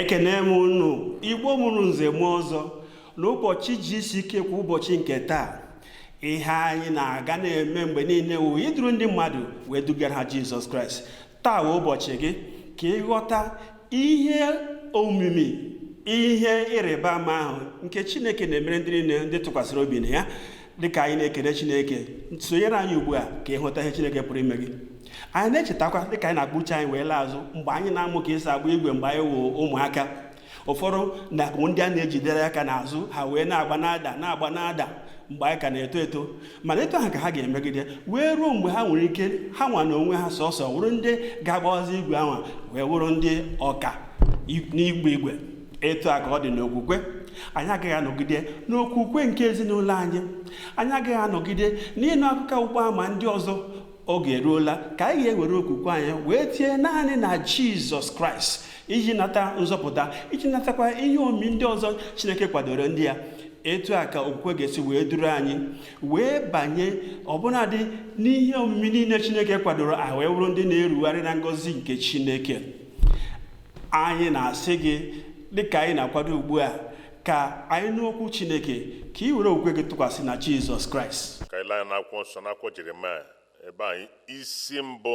ekene m unu igbo mụrụ nze mụọ ọzọ n'ụbọchị GCK kwa ụbọchị nke taa ihe anyị na-aga na-eme mgbe niile wụ iduru ndị mmadụ wee dugara ha jizọs kraịst taa wụ ụbọchị gị ka ịghọta ihe omimi ihe ịrịba ama ahụ nke chineke na-emere ndị niile ndị tụkwasịrị obi na ya dịka anyị na-ekele chineke sonyere anyị ugbu a ka ịghọta ihe chineke pụrụ ime gị anyị na-echetakwa dịka anyị na-akpụ uche anyị wee laa azụ mgbe anyị na-amụ ka esi agba igwe mgbe anyị wụ ụmụaka ụfọdụ na ndị a na-ejidere aka n'azụ ha wee na-agba na-ada na-agba na-ada mgbe anyị ka na-eto eto mana etu ahụ ka ha ga-emegide wee ruo mgbe ha nwere ike ha nwa na onwe ha sọsọ wụrụ ndị ga-agbawazi igwe ahụ wee wụrụ ndị ọka n'ịgba igwe etu a ka ọ dị n'okwukwe anyị agaghị anọgide n'okwukwe nke ezinụlọ anyị anyị agaghị anọgide n'ịnụ akụkọ ọgbụgba ama ndị ọzọ oge eruola ka anyị ga-ewere okwukwe anyị wee tie naanị na jizọs kraịst iji nata nzọpụta iji natakwa ihe omi ndị ọzọ chineke kwadoro ndị ya etu a ka okwukwe ga-esi wee duru anyị wee banye ọbụnadị n'ihe omimi niile chineke kwadoro a wee wụrụ ndị na-erugharị na ngọzi nke chineke anyị na-asị gị dịka anyị na-akwado ugbu a ka anyị nụ okwu Chineke ka ị were okwukwe gị tụkwasị na Jizọs Kraịst ka i lee anya n'akwụkwọ nsọ n'akwụkwọ Jeremaya ebe anyị isi mbụ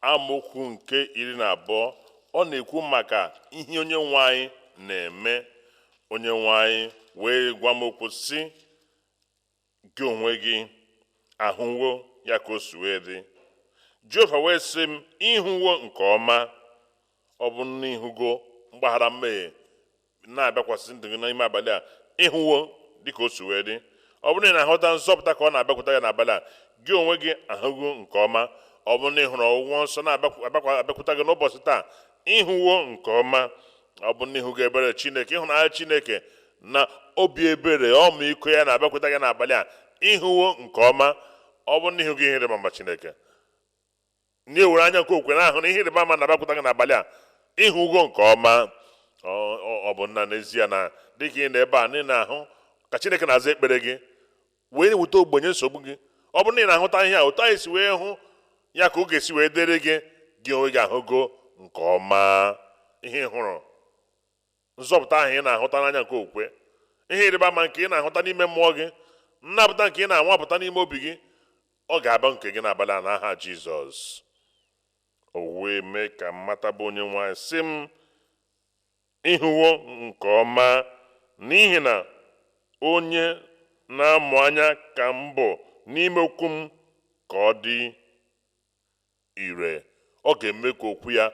amaokwu nke iri na abụọ ọ na-ekwu maka ihe onye nwe anyị na-eme onye nwe anyị wee gwa m okwu sị gị onwe gị ahụwo ya ka o si wee dị jehova wee sị m ịhụwo nke ọma ọ bụrụ na ịhụgo mgbaghara mmehie na-abịakwasị ndụ gị n'ime abalị a ịhụwo dịka o si wee dị ọ bụrụ na ị na-ahụta nzọpụta ka ọ na-abịakwụta gị n'abalị a gị onwe gị ahụgo nke ọma ọ bụrụ na ị hụrụ ọgwụgwọ nsọ na-abịakwụta gị n'ụbọchị taa ịhụwo nke ọma ọ bụ na ịhụgo ebere chineke ịhụnanya chineke na obi ebere ọmịiko ya na-abịakwụta gị n'abalị a ịhụwo nke ọma ọ bụ na ịhụgo ihe ịrịba ama chineke na i were anya nke okwukwe na-ahụ na ihe ịrịba ama na-abịakwụta gị n'abalị a ịhụgo nke ọma ọ bụrụ na n'ezie na dịka ị nọ ebe a na ị na-ahụ ka chineke na-aza ekpere gị wee na-eweta ogbugbo nye nsogbu gị ọ bụrụ na ị na-ahụta ihe a otu anyị si wee hụ ya ka ọ ga-esi wee dịrị gị gị onwe gị ahụgo nke ọma ihe ị hụrụ nzọpụta ahụ ị na-ahụta n'anya nke okwukwe ihe ịrịba ama nke ị na-ahụta n'ime mmụọ gị nnapụta nke ị na-anwapụta n'ime obi gị ọ ga-abụ nke gị n'abalị a n'aha Jizọs o wee mee ka m mata bụ onye nwe anyị sị m Ịhụwo nke ọma, n'ihi na onye na-amụ anya ka m bụ n'ime okwu m ka ọ dị ire, ọ ga-eme ka okwu ya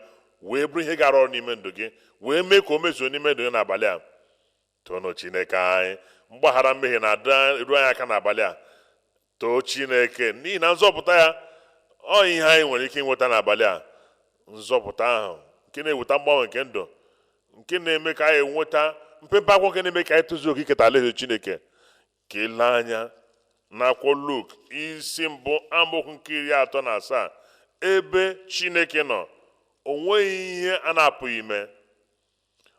wee bụrụ ihe ga-arụ ọrụ n'ime ndụ gị, wee mee ka o mezuo n'ime ndụ gị n'abalị a. Toonụ Chineke anyị. Mgbaghara mmehie na-eru anyị aka n'abalị a. too chineke n'ihi na nzọpụta ya ọ ihe anyị nwere ike ịnweta n'abalị a nzọpụta ahụ nke na-eweta mgbanwe nke ndụ nke na-eme ka anyị nweta mpempe akwụkwọ nke na-eme ka anyị tozuo oke iketa alaeze chineke ka i lee anya n'akwụkwọ luk isi mbụ amaokwu nke iri atọ na asaa ebe chineke nọ o nweghị ihe a na-apụghị ime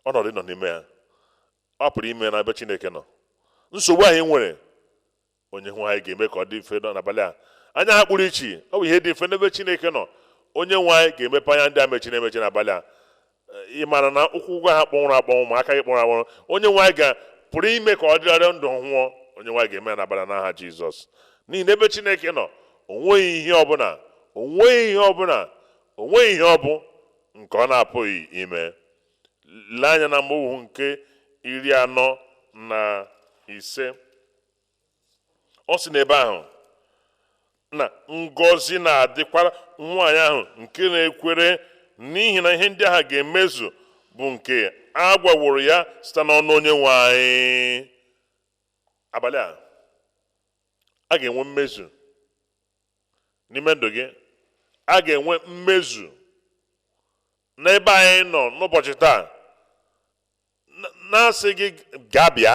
ọnọdụ ị nọ n'ime ya a pụrụ ime n'ebe chineke nọ nsogbu anyị nwere onye nwe anyị ga-eme ka ọ dị mfe n'abalị a anya ha kpuru ichi ọ bụ ihe dị mfe n'ebe chineke nọ onye nwe anyị ga-emepe anya ndị a mechiri emechi n'abalị a ị maara na ụkwụ gị ahụ kpọnwụrụ akpọnwụ ma aka gị kpọnwụrụ akpọnwụ onye nwe anyị ga pụrụ ime ka ọ dịrị ndụ ọhụụ onye nwe anyị ga-eme ya n'abalị a n'aha jizọs n'ihi na ebe chineke nọ o nweghị ihe ọbụla o nweghị ihe ọ bụ nke ọ na-apụghị ime lee anya n'amaokwu nke iri anọ na ise ọ sị n'ebe ahụ na ngọzi na-adịkwara nwaanyị ahụ nke na-ekwere n'ihi na ihe ndị ahụ ga-emezu bụ nke a gwaworo ya site n'ọnụ onye nwe anyị abalị a a ga-enwe mmezu n'ime ndụ gị a ga-enwe mmezu n'ebe anyị nọ n'ụbọchị taa na-asị gị ga-abịa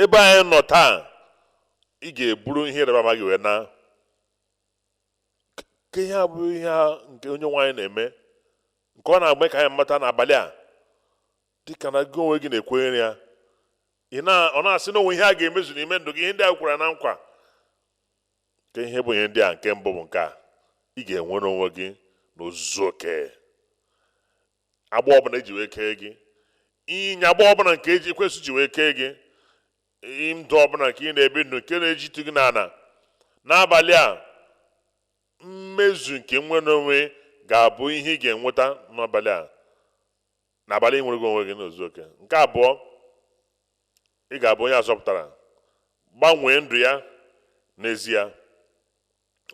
ebe anyị nọ taa ị ga-eburu ihe ịrịba ama gị wee naa ka ihe a bụrụ ihe nke onye nwe anyị na-eme nke ọ na-eme ka anyị mata n'abalị a dịka na gị onwe gị na-ekwenyere ya ọ na-asị na o nwe ihe a ga-emezu n'ime ndụ gị ihe ndị a kwere na nkwa kee ihe bụ ihe ndị a nke mbụ bụ nke a ị ga-enwere onwe gị n'ozuzu oke agbụ ọbụla e ji wee kee gị ịyagba ọbụla nke ekwensu ji wee kee gị ndụ ọbụla nke ị na-ebi ndụ nke na-ejitụ gị n'ala n'abalị a mmezu nke nnwere onwe ga-abụ ihe ị ga-enweta n'abalị a n'abalị a i nwerego onwe gị n'ozuzu oke nke abụọ ị ga-abụ onye a zọpụtara gbanwee ndụ ya n'ezie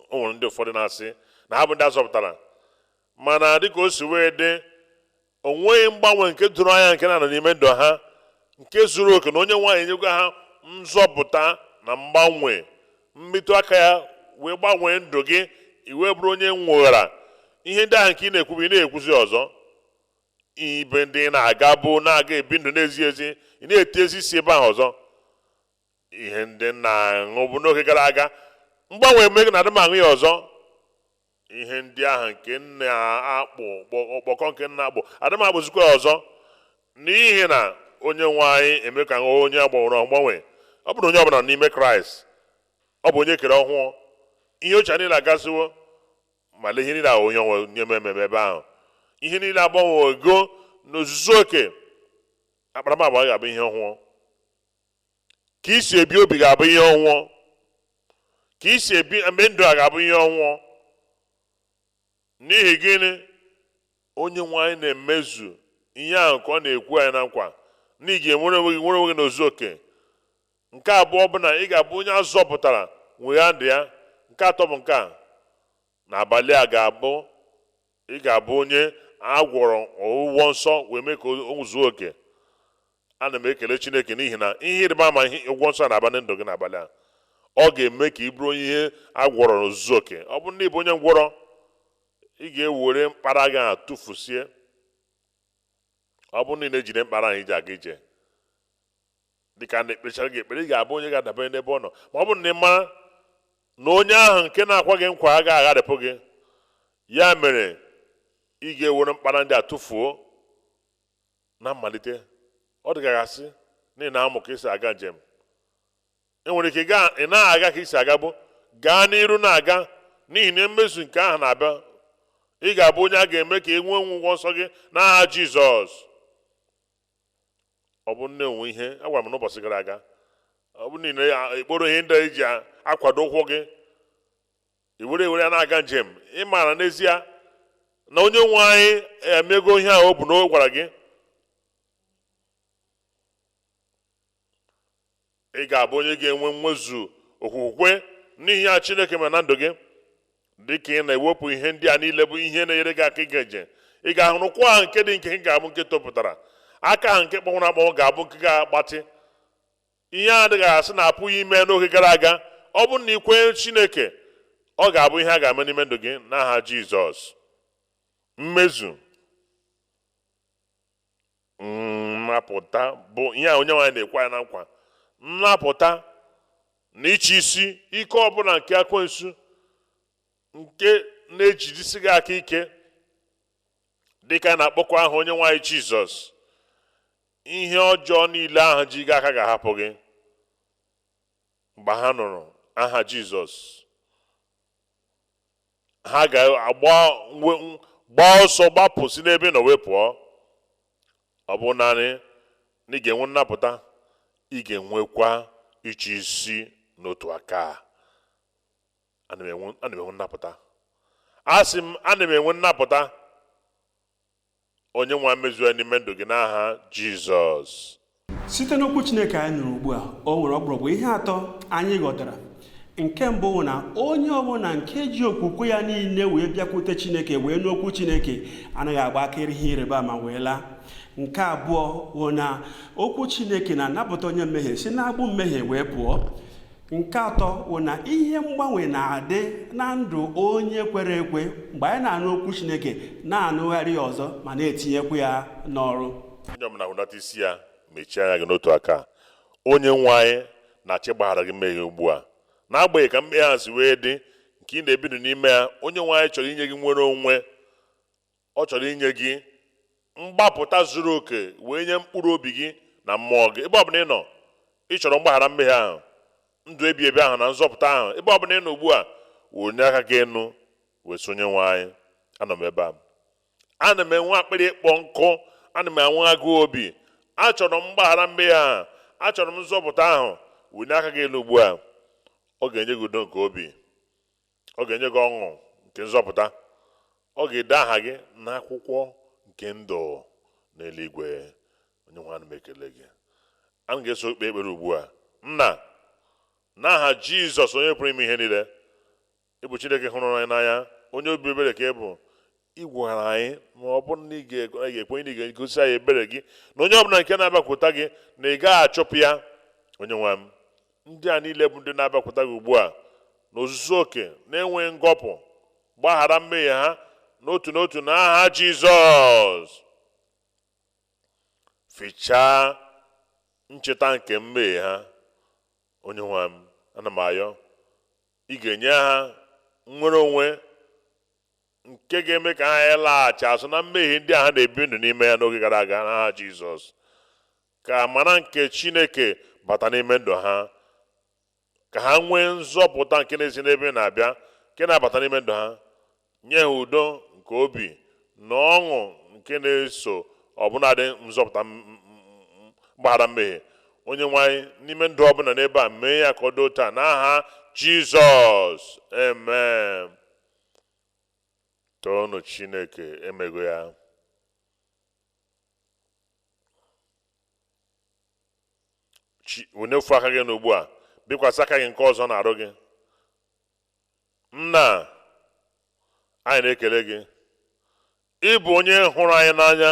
o nwere ndị ụfọdụ na-asị na ha bụ ndị a zọpụtara mana dịka o si wee dị o nweghị mgbanwe nke doro anya nke na-anọ n'ime ndụ ha nke zuru oke na onye nwe anyị enyego ha nzọpụta na mgbanwe mmetụ aka ya wee gbanwee ndụ gị i wee bụrụ onye nweghara ihe ndị ahụ nke ị na-ekwubu ị naghị ekwuzi ọzọ ebe ndị ị na-agabu na-aga ebi ndụ na-ezighị ezi ị naghị etinyezi isi ebe ahụ ọzọ ihe ndị ị na-aṅụbu n'oge gara aga mgbanwe eme na adịghị m aṅụ ya ọzọ ihe ndị ahụ nke na-akpụ ọkpọkọ nke m na-akpụ adịghị m akpụzikwa ya ọzọ n'ihi na onye nwe anyị emee ka m bụrụ onye a gbanwere agbanwe ọ bụrụ na onye ọbụla nọ n'ime kraịst ọ bụ onye e kere ọhụụ ihe ochie niile agasịwo ma lee ihe niile ahụ onye nwe anyị na-eme ebe ahụ ihe niile agbanwego n'ozuzu oke akparamagwa ga-abụ ihe ọhụụ ka i si ebi obi ga-abụ ihe ọhụụ ka i si ebibe ndụ a ga-abụ ihe ọhụụ n'ihi gịnị onye nwe anyị na-emezu ihe ahụ nke ọ na-ekwe anyị na nkwa na ị ga-enwere onwe gị n'ozuzu oke nke abụọ bụ na ị ga-abụ onye a zọpụtara nwegha ndụ ya nke atọ bụ nke a n'abalị a ga-abụ ị ga-abụ onye a gwọrọ ọgwụgwọ nsọ wee mee ka o zuo oke ana m ekele chineke n'ihi na ihe ịrịba ama ihe ọgwụgwọ nsọ na-aba na ndụ gị n'abalị a ọ ga-eme ka ị bụrụ onye a gwọrọ n'ozuzu oke ọ bụ na ị bụ onye ngwọrọ ị ga-ewere mkpara gị a tụfusie ọ bụ na ị na-ejide mkpara ahụ i ji aga ije dị ka ndị ekpechara gị ekpere ị ga-abụ onye ga-adabere n'ebe ọ nọ ma ọ bụ na ị mara na onye ahụ nke na-akwa gị nkwa agaghị agharịpụ gị ya mere ị ga-ewere mkpara ndị a tụfuo na mmalite ọ dị ka a ga-asị na ị na-amụ ka e si aga njem e nwere ike ị naghị aga ka i si agabu gaa n'iru na-aga n'ihi na mmezu nke ahụ na-abịa ị ga-abụ onye a ga-eme ka e nwee ọgwụgwọ nsọ gị n'aha Jizọs ọ bụ na o nwere ihe a gwara m n'ụbọchị gara aga ọ bụ na ị na-ekporo ihe ndị e ji akwado ụkwụ gị i were i were ya na-aga njem ị maara n'ezie na onye nwe anyị emego ihe ahụ o bu n'ọnụ gwara gị ị ga-abụ onye ga-enwe nwezuo okwukwe n'ihe a chineke mere na ndụ gị dị ka ị na-ewepụ ihe ndị a niile bụ ihe na-enyere gị aka ịga njem ị ga-ahụrụ ụkwụ ahụ nke dị nkenke ga-abụ nke topụtara aka ahụ nke kpọnwụrụ akpọnwụ ga-abụ nke ga-agbatị ihe dị ka a sị na apụghị ime n'oge gara aga ọ bụrụ na ị kwenye Chineke ọ ga-abụ ihe a ga-eme n'ime ndụ gị n'aha Jizọs mmezu nnapụta bụ ihe onye nwe anyị na-ekwe ya na nkwa nnapụta na ịchị isi ike ọbụla nke ekwensu nke na-ejidesi gị aka ike dịka na-akpọku aha onye nwe anyị Jizọs ihe ọjọọ niile ahụ ji gị aka ga-ahapụ gị mgbe ha nụrụ aha jizọs ha ga-agba ọsọ gbapụ si n'ebe ị nọ wee pụọ ọ bụghị naanị na ị ga-enwe nnapụta ị ga-enwekwa ịchị isi n'otu aka ana m enwe nnapụta asị m ana m enwe nnapụta onye nwe anyị mezuo ya n'ime ndụ gị n'aha jizọs site n'okwu chineke anyị nụrụ ugbu a o nwere ọkpụrụkpụ ihe atọ anyị ghọtara nke mbụ bụ na onye ọbụla nke ji okwukwe ya niile wee bịakwute chineke wee nụ okwu chineke anaghị agba aka ịrị ihe ịrịba ama wee laa nke abụọ bụ na okwu chineke na-anapụta onye mmehie si n'agbụ mmehie wee pụọ nke atọ bụ na ihe mgbanwe na-adị na ndụ onye kwere ekwe mgbe anyị na-anụ okwu chineke na-anụgharị ya ọzọ ma na-etinyekwu ya n'ọrụ onye ọbụla hudata isi ya mechie anya gị n'otu aka onye nwe anyị na-achọ ịgbaghara gị mmehie ugbu a n'agbanyeghị ka mmehie ahụ si wee dị nke ị na-ebi ndụ n'ime ya onye nwe anyị chọrọ inye gị nnwere onwe Ọ chọrọ inye gị mgbapụta zuru oke wee nye mkpụrụ obi gị na mmụọ gị. Ebe ọbụla ị nọ, ị chọrọ mgbaghara mmehie ahụ, ndụ ebi ebi ahụ na nzọpụta ahụ. Ebe ọbụla ị nọ ugbu a, wenie aka gị enu wee sị Onyenwe anyị, anọ m ebe a. Ana m enwe akpịrị ịkpọ nkụ, ana m enwe agụụ obi. Achọrọ m mgbaghara mmehie ahụ, achọrọ m nzọpụta ahụ. Wenie aka gị elu ugbu a. Ọ ga-enye gị udo nke obi. Ọ ga-enye gị ọṅụ nke nzọpụta. Ọ ga-ede aha gị n'akwụkwọ nke ndụ n'eluigwe. Onye nwe anyị, ana m ekele gị. Anyị ga-eso kpee ekpere ugbu a. Nna, n'aha Jizọs onye pụrụ ime ihe niile, ị bụ Chineke hụrụ anyị n'anya, onye obi ebere ka ị bụ, ị gwara anyị na ọ bụrụ na anyị ga-ekwenye na ị ga-egosi anyị ebere gị na onye ọbụla nke na-abịakwute gị na ị gaghị achụpụ ya onye nwe m ndị a niile bụ ndị na-abịakwute gị ugbu a n'ozuzu oke na-enweghị ngọpụ gbaghara mmehie ha n'otu n'otu n'aha Jizọs fichaa ncheta nke mmehie ha onye nwe m ana m ayọ ị ga-enye ha nnwere onwe nke ga-eme ka ha laghachi azụ na mmehie ndị a ha na-ebi ndụ n'ime ya n'oge gara aga n'aha Jizọs ka amara nke Chineke bata n'ime ndụ ha ka ha nwee nzọpụta nke na-esi n'ebe na-abịa nke na-abata n'ime ndụ ha nye ha udo nke obi na ọṅụ nke na-eso ọbụnadị nzọpụta mgbaghara mmehie onye nwe anyị n'ime ndụ ọbụla n'ebe a mee ya ka ọ dị otu a n'aha Jizọs amen toonụ Chineke emego ya wenie ofu aka gị n'ugbu a bikwasị aka gị nke ọzọ n'arụ gị nna anyị na-ekele gị ị bụ onye hụrụ anyị n'anya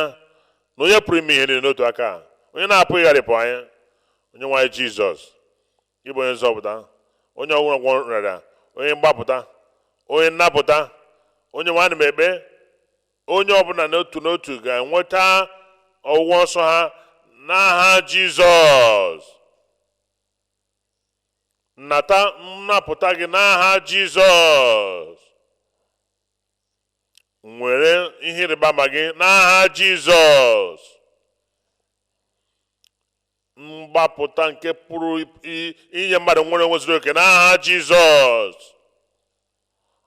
na onye pụrụ ime ihe niile n'otu aka onye na-apụghị ịgharịpụ anyị onye nwe anyị jizọs ị bụ onye nzọpụta onye ọgwụgwọ ọrịa onye mgbapụta onye nnapụta onye nwe anyị ana m ekpe onye ọbụla n'otu n'otu ga-enweta ọgwụgwọ nsọ ha n'aha jizọs nata nnapụta gị n'aha jizọs were ihe ịrịba ama gị n'aha jizọs mgbapụta nke pụrụ inye mmadụ nnwere onwe zuru oke n'aha jizọs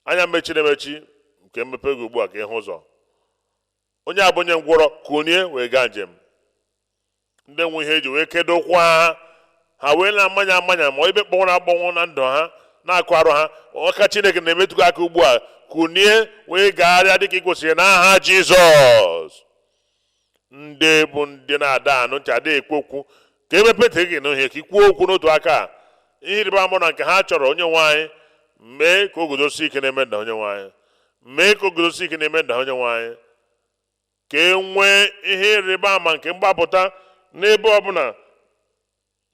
anya mechiri emechi ka e mepe gị ugbu a ka ị hụ ụzọ onye a bụ onye ngwọrọ kunie wee gaa njem ndị nwe ihe eji wee kedo ụkwụ ha ha wee na-amanya amanya ma ibe kpọnwụrụ akpọnwụ na ndụ ha n'akụkụ arụ ha aka chineke na-emetụ gị aka ugbu a kunie wee gagharịa dịka ị kwesịrị n'aha jizọs ndị bụ ndị na-ada anụ ntị ada ekwu okwu ka e mepe ntị gị nụ ihe ka i kwuo okwu n'otu aka a ihe ịrịba ama na nke ha chọrọ onye nwe anyị mee ka o guzosi ike n'ime ndụ ha onye nwe anyị mee ka o guzosi ike n'ime ndụ ha onye nwe anyị ka e nwee ihe ịrịba ama nke mgbapụta n'ebe ọbụla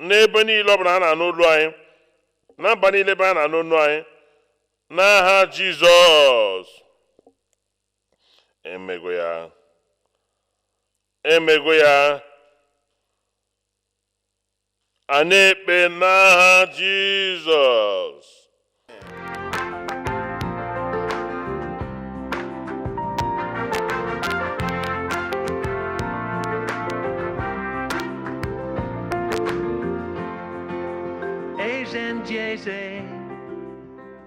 n'ebe niile ọbụla ha na-anụ olu anyị na mba niile ebe a na-anụ olu anyị n'aha Jizọs emego ya emego ya a na-ekpe n'aha Jizọs GC.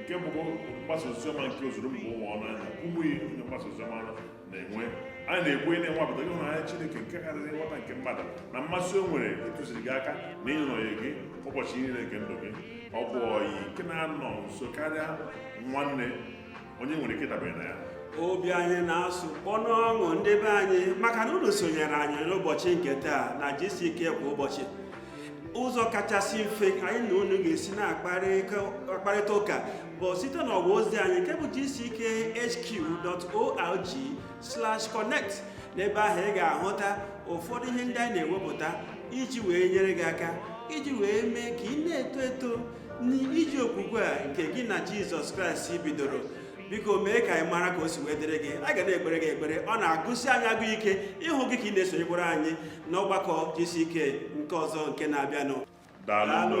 nke bụkwa mgbasa oziọma nke ozuru mba ụwa ọnụ anyị na Kumuyi onye mgbasa oziọma na-enwe anyị na-ekwenye na ị nwapụtago ịhụnanya Chineke nke karịrị nghọta nke mmadụ na mmasị o nwere ịtụziri gị aka na ịnọnye gị ụbọchị niile nke ndụ gị ọ bụ ọyị nke na-anọ nso karịa nwanne onye nwere ike dabere na ya obi anyị na-asụ kpọ n'ọṅụ ndị be anyị maka na unu sonyere anyị n'ụbọchị nke taa na gck kwa ụbọchị ụzọ kachasị mfe anyị na unu ga-esi na-akparịta ụka bụ site n'ọwa ozi anyị nke bụ gckhq.org slash connect n'ebe ahụ ị ga-ahụta ụfọdụ ihe ndị anyị na-ewepụta iji wee nyere gị aka iji wee mee ka ị na-eto eto n'ije okwukwe a nke gị na jizọs kraịst bidoro biko mee ka anyị mara ka o si wee dịrị gị a ga na-ekpere gị ekpere ọ na-agụsi anyị agụ ike ịhụ gị ka ị na-esonyekwara anyị n'ọgbakọ gck nke ọzọ nke na-abịanụ daalụ